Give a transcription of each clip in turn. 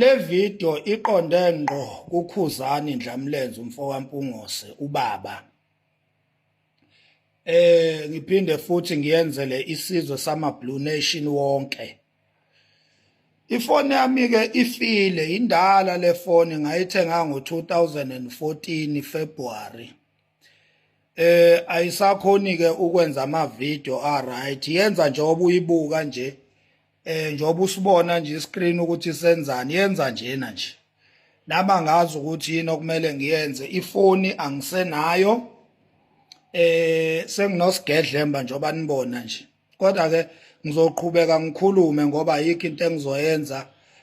Le video iqonde ngqo kuKhuzani Ndlamlenze umfowampungose ubaba. Eh ngiphinde futhi ngiyenzele isizwe sama Blue Nation wonke. Ifoni yami ke ifile indala le foni ngayithenga ngo-2014 February. Eh ayisakhoni ke ukwenza ama video a right yenza nje obuyibuka nje. eh njengoba usibona nje iscreen ukuthi senzani yenza njena nje naba ngazi ukuthi yini okumele ngiyenze ifoni angisenayo eh senginosgedlemba njengoba nibona nje kodwa ke ngizoqhubeka ngikhulume ngoba yikho into engizoyenza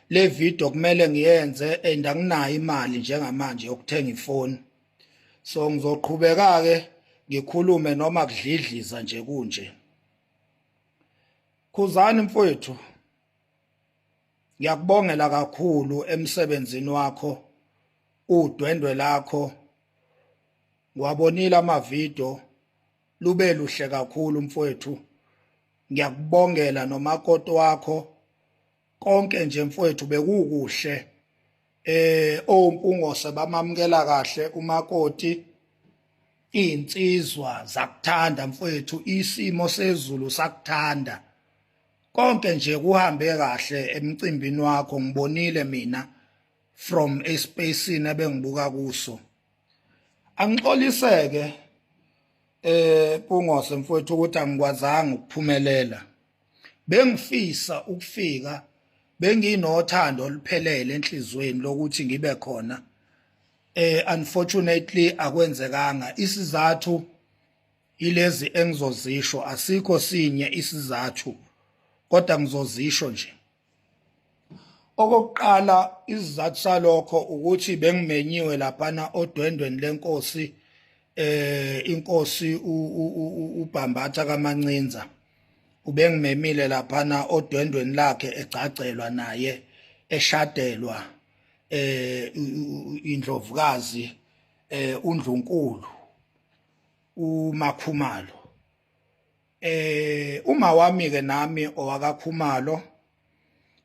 le video kumele ngiyenze and anginayo imali njengamanje yokuthenga ifoni so ngizoqhubeka ke ngikhulume noma kudlidliza nje kunje Khuzani mfowethu ngiyakubongela kakhulu emsebenzini wakho udwendwe lakho ngiwabonile amavidiyo lube luhle kakhulu mfowethu ngiyakubongela nomakoti wakho konke nje mfowethu bekukuhle eh ompungose bamamukela kahle umakoti insizwa zakuthanda mfowethu isimo sezulu sakuthanda konke nje kuhambe kahle emcimbini wakho ngibonile mina from a space ebengibuka kuso angixoliseke eh kungose mfowethu ukuthi angikwazanga ukuphumelela Bengifisa ukufika benginothando oluphelele enhlizweni lokuthi ngibe khona eh unfortunately akwenzekanga isizathu ilezi engizozisho asikho sinye isizathu kodwa ngizozisho nje Okokuqala isizathu salokho ukuthi bengimenyiwe laphana odwendweni lenkosi eh inkosi uBhambatha kaMancinza ubengimemile laphana odwendweni lakhe egcagcelwa naye eshadelwa eh indlovukazi eh uNdlunkulu uMakhumalo eh uma wami ke nami owakakhumalo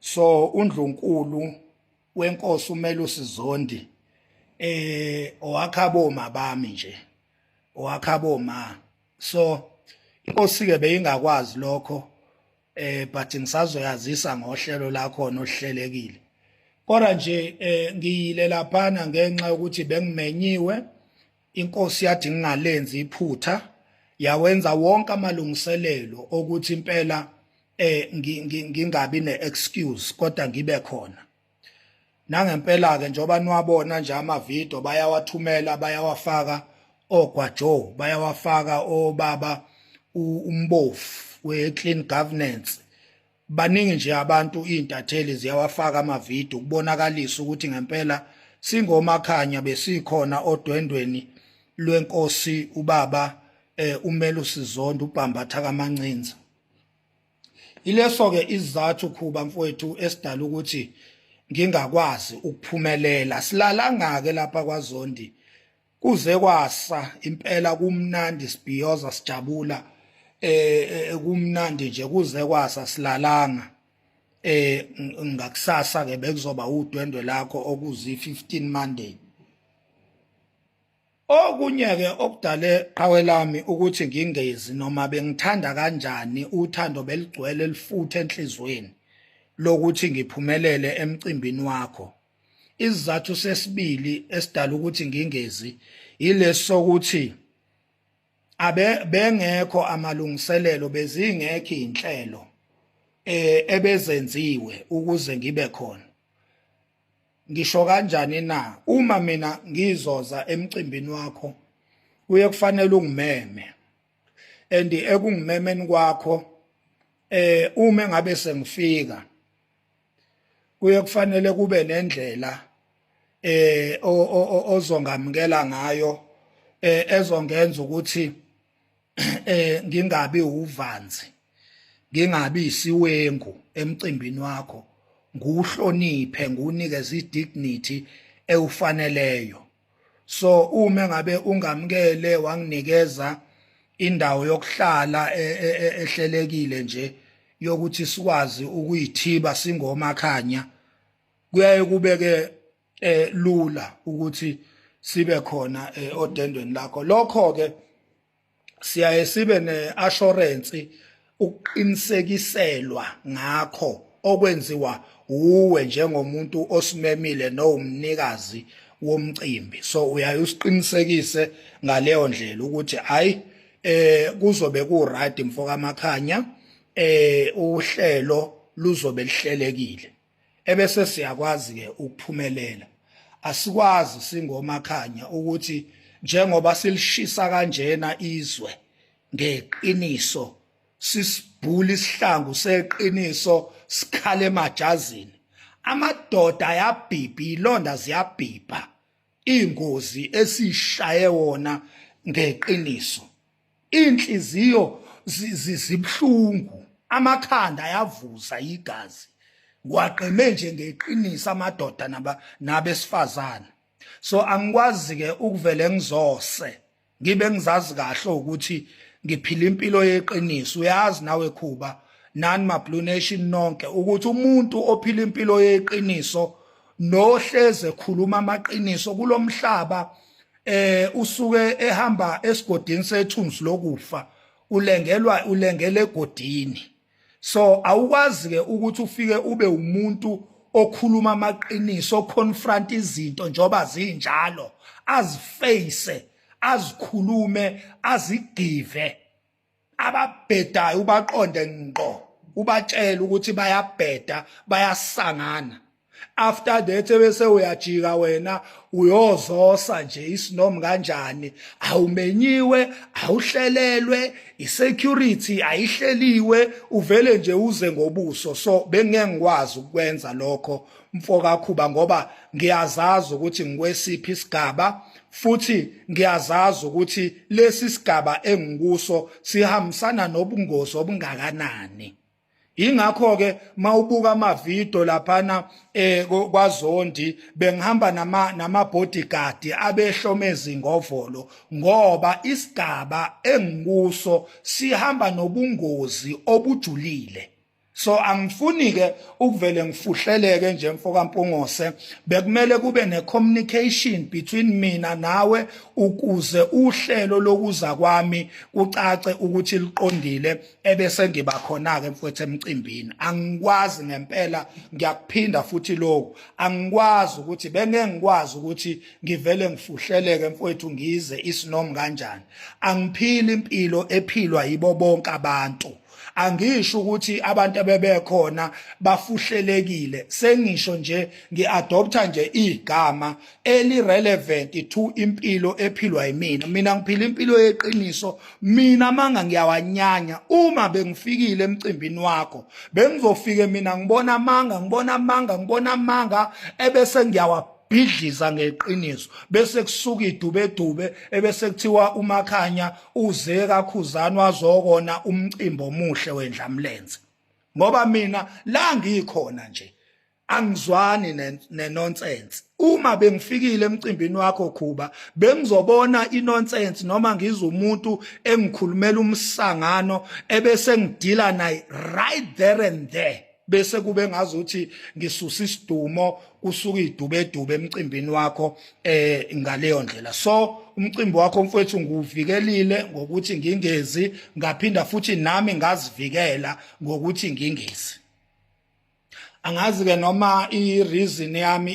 so undlunkulu wenkosi umele usizondi eh owakhabo mabami nje owakhabo ma so inkosi ke beyingakwazi lokho eh but ngisazoyazisa ngohlelo lakho nohlelekile kodwa nje eh ngiyile laphana ngenxa yokuthi bengimenyiwe inkosi yathi ngingalenzi iphutha yawenza wonke amalungiselelo okuthi impela eh ngingabi neexcuse kodwa ngibe khona nangempela ke njoba niwabona nje ama video bayawathumela bayawafaka ogwajo bayawafaka obaba umbofu we clean governance baningi nje abantu izintatheli ziyawafaka amavidiyo ukubonakalisa ukuthi ngempela singomakhanya besikhona odwendweni lwenkosi ubaba eh umele usizondo ubhambatha kamancinza ileso ke izathu khuba mfowethu esidala ukuthi ngingakwazi ukuphumelela silalangake lapha kwaZondi kuze kwasa impela kumnandi sibhiyoza sijabula eh kumnandi nje kuze kwasa silalanga eh ngakusasa ke bekuzoba udwendwe lakho okuzi 15 Monday okunye ke okudale qhawe lami ukuthi ngingezi noma bengithanda kanjani uthando beligcwele lifuthe enhlizweni lokuthi ngiphumelele emcimbini wakho isizathu sesibili esidala ukuthi ngingezi yilesokuthi abe bengekho amalungiselelo bezingekho inhlelo eh, ebezenziwe ukuze ngibe khona ngisho kanjani na uma mina ngizoza emcimbini wakho kuye kufanele ungimeme and ekungimemeni kwakho eh uma ngabe sengifika kuye kufanele kube nendlela eh ozongamukela ngayo eh ezongenza ukuthi eh ngingabi uvanzi ngingabi isiwengu emcimbini wakho nguhloniphe ngunikeze idignity ewufaneleyo so uma ngabe ungamkele wanginikeza indawo yokuhlala e, e, e, ehlelekile nje yokuthi sikwazi ukuyithiba singomakhanya kuyaye kubeke eh lula ukuthi sibe khona eh, odendweni lakho lokho ke siyaye sibe ne-assurance ukuqinisekiselwa ngakho okwenziwa uwe njengomuntu osimemile nowumnikazi womcimbi so uyaye usiqinisekise ngaleyo ndlela ukuthi hayi eh kuzobe ku right mfoka makhanya eh uhlelo luzobe lihlelekile ebese siyakwazi ke ukuphumelela asikwazi singomakhanya ukuthi njengoba silishisa kanjena izwe ngeqiniso sisibhula isihlangu seqiniso sikhale emajazini amadoda ayabhibha ilonda ziyabhibha ingozi esishaye wona ngeqiniso inhliziyo zibuhlungu amakhanda ayavuza igazi waqeme nje ngeqiniso amadoda naba nabesifazana so angikwazi ke ukuvele ngizose ngibe ngizazi kahle ukuthi ngiphila impilo yeqiniso uyazi nawe khuba nani ma blue nation nonke ukuthi umuntu ophila impilo yeqiniso nohleze khuluma amaqiniso kulomhlaba eh usuke ehamba esigodini sethunzi lokufa ulengelwa ulengele egodini so awukwazi ke ukuthi ufike ube umuntu okhuluma amaqiniso oconfront izinto njoba zinjalo aziface azikhulume azigive ababhedayo ubaqonde ngqo ubatshela ukuthi bayabheda bayasangana after that bese uyajika wena uyozosa nje isinom kanjani awumenyiwe awuhlelelwe isecurity ayihleliwe uvele nje uze ngobuso so bengeke ngikwazi ukwenza lokho mfoka Khuba ngoba ngiyazazi ukuthi ngikwesiphi isigaba futhi ngiyazazi ukuthi lesi sigaba engikuso sihambisana nobungozi obungakanani ingakho ke mawubuka ama video laphana eh kwaZondi bengihamba nama nama bodyguard abehlomezi ngovolo ngoba isigaba engikuso sihamba nobungozi obujulile so angifuni ke ukuvele ngifuhleleke nje mfoka Mpungose bekumele kube ne communication between mina nawe ukuze uhlelo lokuza kwami kucace ukuthi liqondile ebese ngiba khona ke mfowethu emcimbini angikwazi ngempela ngiyakuphinda futhi lokho angikwazi ukuthi bengeke ngikwazi ukuthi ngivele ngifuhleleke mfowethu ngize isinom kanjani angiphili impilo ephilwa yibo bonke abantu angisho ukuthi abantu abebekhona bafuhlelekile sengisho nje ngiadoptha nje igama eli relevant to impilo ephilwa yimina mina ngiphila impilo yeqiniso mina manga ngiyawanyanya uma bengifikile emcimbini wakho bengizofike mina ngibona amanga ngibona amanga ngibona amanga ebese ngiyawa bhidliza ngeqiniso bese kusuka idubedube ebese kuthiwa umakhanya uze kakhuzani wazokona umcimbi omuhle wendlamlenze ngoba mina la ngikhona nje angizwani nenonsense uma bengifikile emcimbini wakho khuba bengizobona inonsense noma ngizwe umuntu engikhulumela umsangano ebese ngidila naye right there and there bese kube ngazuthi ngisusa isidumo usuke idubedube emcimbini wakho eh ngaleyo ndlela so umcimbi wakho mfowethu nguvikelile ngokuthi ngingezi ngaphinda futhi nami ngazivikela ngokuthi ngingezi angazi ke noma i reason yami